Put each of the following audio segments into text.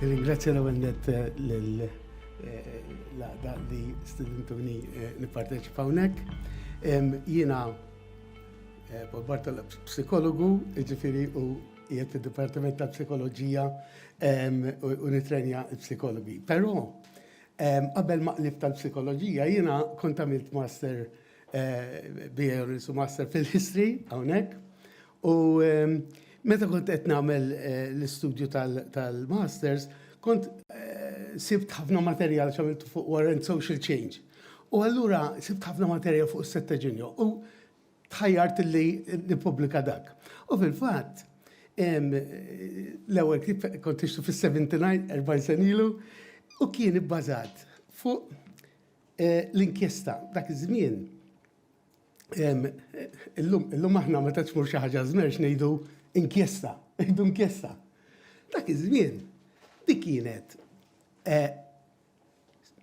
Ringrazzja l-ewwel nett eh, lil eh, l-għaqda li studentuni eh, nipparteċipa hawnhekk. Jiena Paul Bartol psikologu, ġifiri u jiet fid-Dipartiment ta' Psikoloġija u nitrenja psikologi. Però Qabel ma qlibt għall-psikoloġija jiena kont għamilt master BA Honours u Master fil-History hawnhekk. U meta kont qed nagħmel l-istudju tal-Masters kont sibt ħafna materjal x'għamilt fuq War and Social Change. U allura sibt ħafna materjal fuq is-Settaginion. tħajjart li nippubblika dak. U fil-fatt, l-ewwel kif kont nixtu fis-79, 40 sen ilu, u kien ibbażat fuq eh, l-inkjesta dak iż-żmien. Illum aħna meta tmur xi ħaġa żmerġ ngħidu inkjesta, ngħidu inkjesta. Dak iż-żmien dik kienet eh,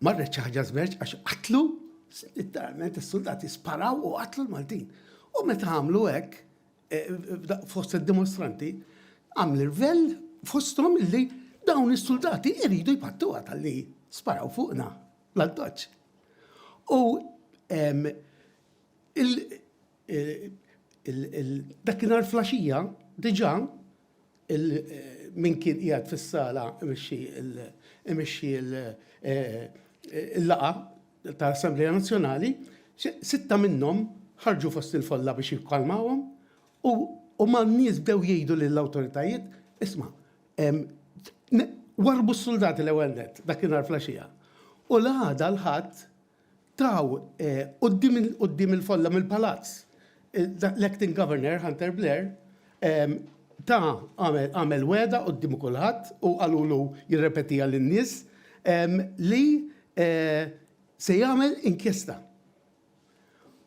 Marret xi ħaġa żmerċ għax qatlu, literalment is-suldati sparaw u qatlu l-Maltin. U meta għamlu hekk, eh, fost id-dimostranti, għamlu l-vel fosthom illi dawn is-suldati jridu jpattu tal-li sparaw fuqna l-addoċ. U eh, dakinhar flaxija diġà il min kien qiegħed fis-sala imexxi imexxi l-laqgħa tal-Assemblea Nazzjonali, sitta minnhom ħarġu fost il-folla biex jikkalmawhom u u mal-nies bdew jgħidu lill-awtoritajiet, isma' warbu s-suldati l-ewwel net dakinhar flaxija. U l-għada l-ħadd Taw quddiem il-folla mill-palazz. L-Acting Governor, Hunter Blair, ta għamel wegħda quddiem kulħadd u qalulu jirrepetiha lin-nies li se jagħmel inkjesta.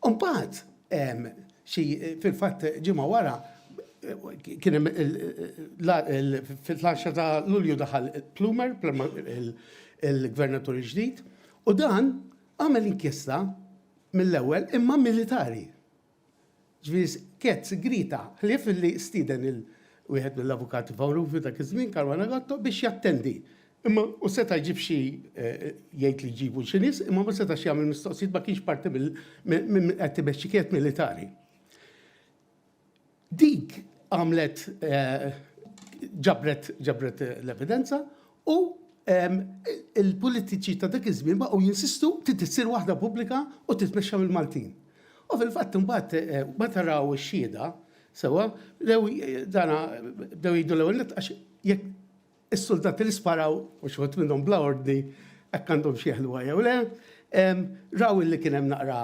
U mbagħad xi fil-fatt ġimgħa wara kien hemm fil-10 ta' Lulju daħal Plumer, il-Gvernatur il-ġdid, U dan għamel inkjesta mill-ewwel imma militari. Ġifieri skett sigrita ħlief li stieden il wieħed mill-avukati famużi dak iż-żmien Caruana Gatto biex jattendi. Imma hu seta' jġib xi jgħid li jġibu xi nies imma ma setax jagħmel mistoqsijiet ma kienx parti mill qed imexxi kienet militari. Dik għamlet ġabret ġabret l-evidenza u il-politiċi ta' dak iż-żmien baqgħu jinsistu trid issir waħda pubblika u titmexxa mill-Maltin. U fil-fatt imbagħad meta raw ix-xhieda sewwa bdew dana bdew jgħidu l-ewwel nett għax jekk Is-suldati li sparaw, u xi wħud minnhom bla ordni, hekk għandhomx jeħluha jew le, raw illi kien hemm naqra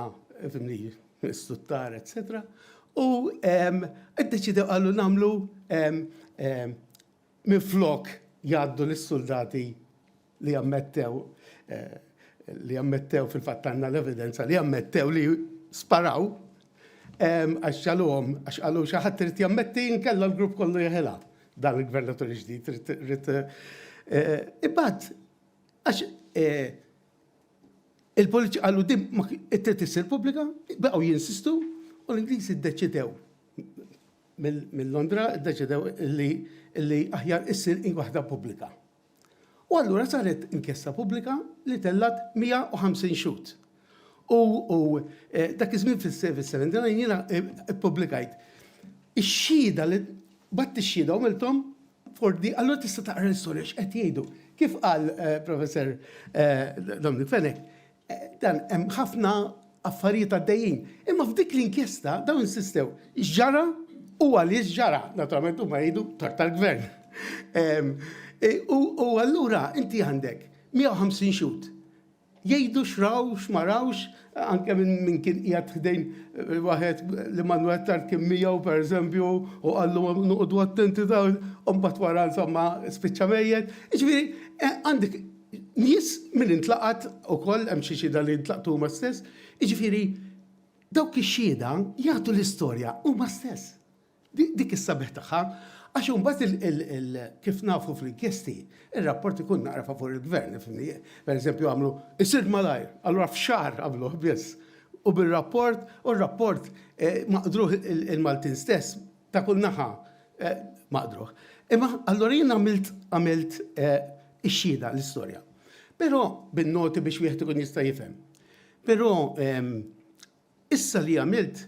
fimni stuttar, etc. U ddeċidew qalu nagħmlu minflok jgħaddu lis-suldati li jammettew li jammettew fil-fatt għandna l-evidenza li jammettew li sparaw għax ġaluhom għax qalu xi ħadd irid jammetti nkella l-grupp kollu jeħilha. Dan il-gvernatur il-ġdid rrit. Imbagħad, għax il-poliċi għallu dim it-tret issir pubblika, baqgħu jinsistu u l-Ingliżi ddeċidew mill-Londra ddeċidew li aħjar issir in waħda pubblika. U allura saret inkjesta pubblika li tellgħet 150 xhud. U, u eh, dak iż-żmien fis-79 jiena eh, ppubblikajt ix-xhieda li batt ix-xhieda u milthom fordi, allura tista' taqra l-istorja x'qed jgħidu. Kif qal eh, Professor eh, Dominic Fenech, Dan hemm ħafna affarijiet għaddejjin. Imma f'dik l-inkjesta dawn insistew x'ġara u għaliex ġara, naturalment huma jgħidu tort tal-gvern. Ehm, e, u allura inti għandek 150 xut jgħidu xraw, xmarawx, anke minn kien qiegħed ħdejn eh, waħed li mandu għattar kien miegħu per eżempju u għallu nuqdu attenti dawn, u mbagħad wara insomma spiċċa mejjed. Ġifieri eh, għandek Nies min intlaqat ukoll hemm xi xhieda li ntlaqtu huma stess, jiġifieri dawk ix-xhieda jagħtu l-istorja huma stess. Dik is-sabiħ tagħha għax imbagħad il kif nafu fl-inkjesti, ir-rapport ikun naqra favur il-Gvern, ifhimni. Pereżempju għamlu, isir malajr, allura f'xahar għamluh biss. U bir-rapport, u r-rapport ma qdruh il-Maltin stess Ta' kull naħa maqdruh. Imma allura jien għamilt għamilt ix-xhieda, l-istorja. Però bin-noti biex wieħed ikun jista' jifhem. Però issa li għamilt,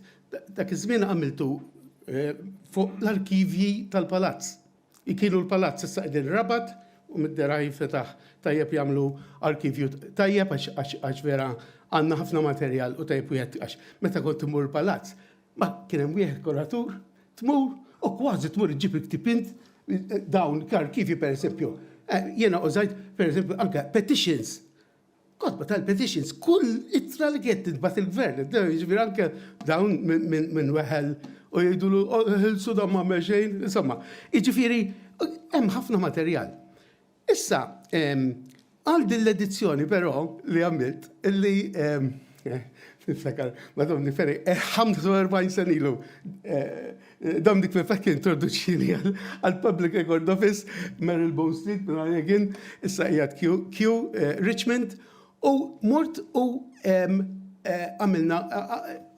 dak iż-żmien għamiltu fuq l-arkivji tal-palazz. Kienu l-palazz issa qegħdin Rabat u mid-dera jinfetaħ tajjeb jagħmlu arkivju tajjeb għax vera għandna ħafna materjal u tajjeb wieħed għax meta kont immur il-palazz Ma kien hemm wieħed kuratur, tmur u kważi tmur iġġib il-ktieb int dawn l-arkivji pereżempju. Eh, jiena użajt pereżempju anke petitions. Kotba tal-petitions, kull ittra li kienet tintbagħat il-gvern, jiġifieri anke dawn minn weħel u jgħidulu oh, ħilsu dan ma' xejn, insomma. Jiġifieri hemm ħafna materjal. Issa, għal din l-edizzjoni però li għamilt, li niftakar, madom niferi, 45 eh, sen ilu, eh, Dominic Fefek introduċini għal Public Record Office, Meryl Bone Street, Brian Egin, issa jgħat Q, eh, Richmond, U mort u għamilna,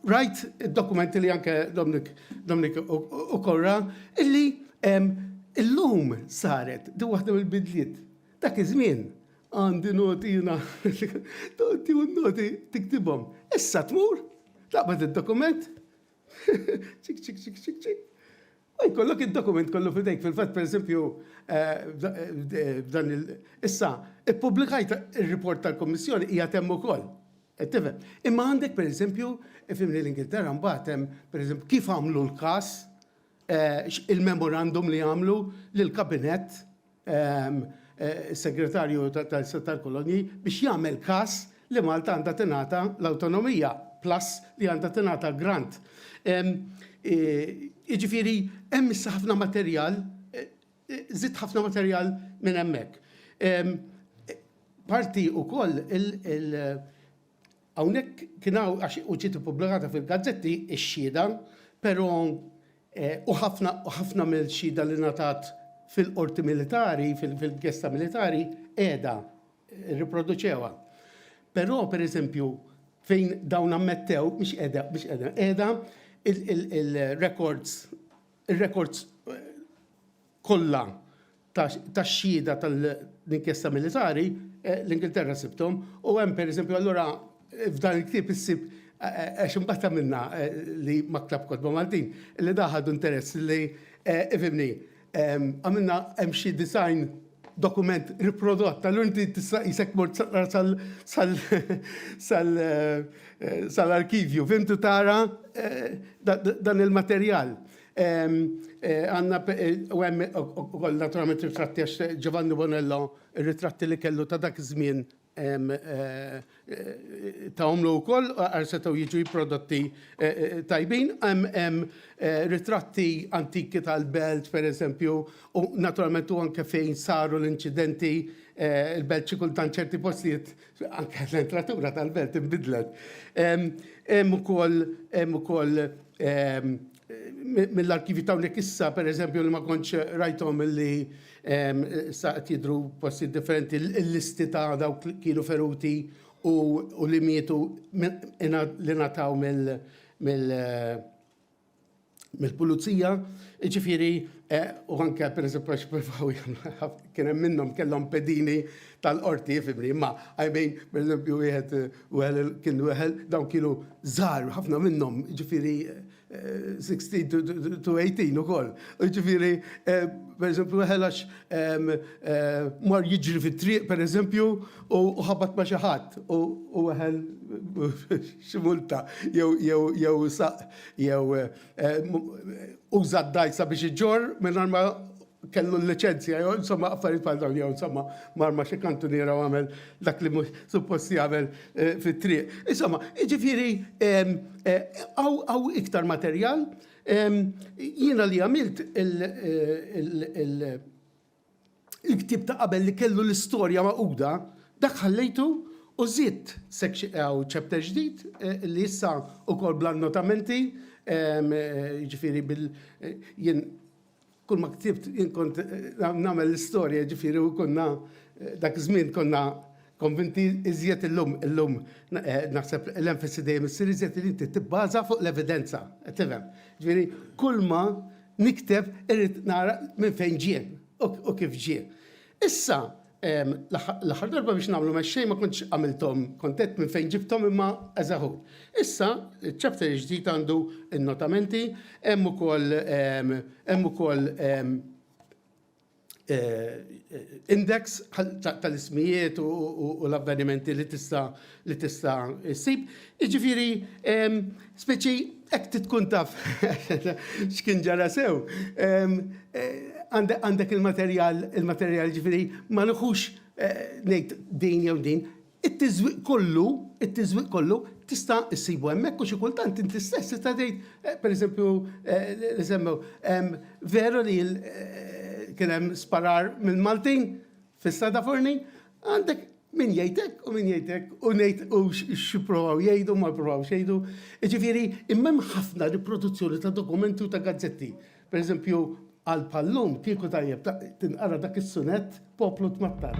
rajt id-dokumenti li anke Dominik ukoll ra, illi illum saret din waħda mill-bidliet. Dak iż-żmien għandi noti jiena, tieħu n-noti tiktibhom. Issa tmur, taqbad id-dokument, Ċik, ċik, ċik, ċik, ċik. U jkollok id-dokument kollu fidejk, fil-fatt, per esempio, eh, dan il- issa, ippubblikajt il-report tal-Kommissjoni hija temm ukoll. Qed tifhem. Imma għandek, per esempio, fimni l-Ingilterra mbagħad hemm, per esempio, kif għamlu l-każ eh, il-memorandum li għamlu lill-kabinet is-Segretarju tal-Istat tal-Kolonji biex jagħmel każ li Malta għandha tingħata l-awtonomija plus li għandha tingħata l-grant. Jiġifieri hemm issa ħafna materjal, żidt ħafna materjal minn hemmhekk. Parti wkoll il- Hawnhekk kien hawn għax u ġiet ippubblikata fil-gazzetti x-xhieda, però u ħafna u ħafna mill-xhieda li ngħatat fil-qorti militari, fil-gesta militari, qiegħda rriproduċewha. Però, per eżempju, fejn dawn ammettew, mhix qiegħda, mhix qiegħda, qiegħda il-records, il-records kollha tax-xhieda tal-inkjesta militari, l-Ingilterra sibthom, u hemm pereżempju allura f'dan il-ktieb issib għax imbagħad għamilna li maktub kotba Maltin, li dak ħadu interess li ifhimni, għamilna hemm xi disgħin dokument riprodott, allura inti tista' qisek mort sal-arkivju, fhimt, u tara dan il-materjal. Għandna u hemm ukoll naturalment ritratti għax Giovanni Bonello ir-ritratti li kellu ta' dak iż-żmien ta' omlu wkoll għar setgħu jiġu prodotti tajbin. Hemm ritratti antiki tal-belt pereżempju u naturalment u anke fejn saru l-inċidenti il-belt xi kultant ċerti postijiet Anke l-entratura tal-belt inbidlet. Hemm ukoll hemm ukoll mill-arkivi ta' hawnhekk issa pereżempju li ma kontx rajthom li sa qed jidhru postijiet differenti l-listi ta' dawk li kienu feruti u li mietu li ngħataw mill mill-pulizija, ġifieri eh, u anke pereżempju għax provaw kien hemm minnhom kellhom pedini tal-qorti fibri, imma I mean pereżempju wieħed wieħed eh, kien wieħed dawn kienu żgħar ħafna minnhom, ġifieri 16 eh, to 18 ukoll. Ġifieri pereżempju wieħed għax mar jiġri fit-triq pereżempju u ħabat ma' xi ħadd u u weħel xi multa jew jew jew saq jew uża d-dgħajsa biex iġorr mingħajr ma kellu l-liċenzja jew insomma affarijiet bħal dawn jew insomma mar ma' xi kantuniera u għamel dak li mhux suppost jagħmel fit-triq. Insomma, jiġifieri hawn iktar materjal jiena li għamilt il Il-ktieb ta' qabel li kellu l-istorja magħquda, dak ħallejtu u żidt chapter ġdid li issa ukoll bl-annotamenti, jiġifieri bil, jien kull ma ktibt jien kont nagħmel l-istorja jiġifieri u konna dak iż-żmien konna Konvinti iżjed illum, illum naħseb l-enfasi dejjem issir iżjed li inti tibbaża fuq l-evidenza, qed tifhem. Ġifieri kulma nikteb irrid nara minn fejn ġie u kif ġie. Issa l-aħħar darba biex nagħmlu mexxej ma kontx għamilthom kont għedt minn fejn ġibthom imma as a whole. Issa ċ-chapter il-ġdid għandu n-notamenti, hemm ukoll hemm ukoll index tal-ismijiet u l-avvenimenti li tista' li tista' ssib. Jiġifieri speċi hekk tkun taf x'kien ġara sew. Għandek il-materjal, il-materjal ġifieri ma nħux ngħid din jew din, It-tiżwieq kollu, it-tiżwieq kollu tista' issibu hemmhekk u xi kultant inti stess tista' tgħid, pereżempju, li semmew, veru li kien hemm sparar mill-Maltin fis-Sada Forni? Għandek min jgħid hekk u min jgħid hekk u ngħid u x'jippruvaw jgħidu u ma jpruvawx jgħidu. Jiġifieri, imma hemm ħafna riproduzzjoni ta' dokumenti u ta' gazzetti. Per eżempju, għal pallum kieku tajjeb tinqara dak is-sunett poplu tmattar.